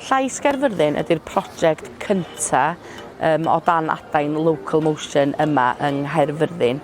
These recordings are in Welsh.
Llais Gaerfyrddin ydy'r prosiect cyntaf um, o dan adain Local Motion yma yng Nghaerfyrddin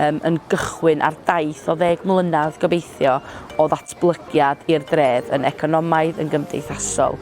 um, yn gychwyn ar daith o ddeg mlynedd gobeithio o ddatblygiad i'r dref yn economaidd, yn gymdeithasol,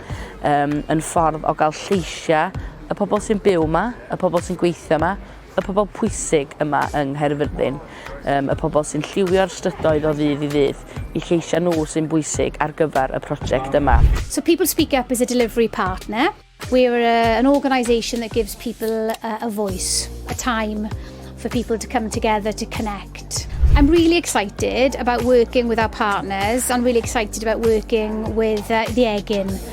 um, yn ffordd o gael lleisiau y pobl sy'n byw yma, y pobl sy'n gweithio yma, Y pobl pwysig yma yng Nghaerfyrddin, yym, y pobl sy'n lliwio'r strydoedd o ddydd i ddydd, y lleisiau nhw sy'n bwysig ar gyfer y prosiect yma. So People Speak Up is a delivery partner. We're a, an organisation that gives people a, a voice, a time for people to come together to connect. I'm really excited about working with our partners and really excited about working with uh, the Egin.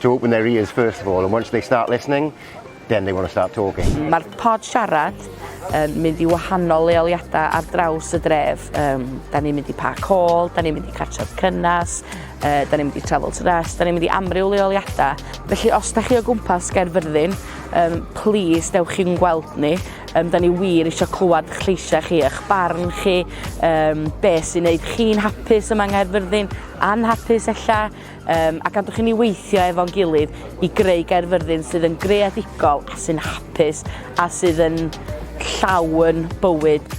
to open their ears first of all and once they start listening then they want to start talking. Mae'r pod siarad yn mynd i wahanol leoliadau ar draws y dref. Um, da ni'n mynd i Park Hall, da ni'n mynd i Cartref Cynnas, uh, da ni'n mynd i Travel to Rest, da ni'n mynd i amryw leoliadau. Felly os da chi o gwmpas Gaerfyrddin, um, please dewch chi'n gweld ni. Um, da ni wir eisiau clywed eich lleisiau chi, eich barn chi, um, beth sy'n gwneud chi'n hapus yma yng Nghaerfyrddin, anhapus ella, Yym, a gadwch i ni weithio efo'n gilydd i greu Gaerfyrddin sydd yn greadigol a sy'n hapus a sydd yn llawn bywyd.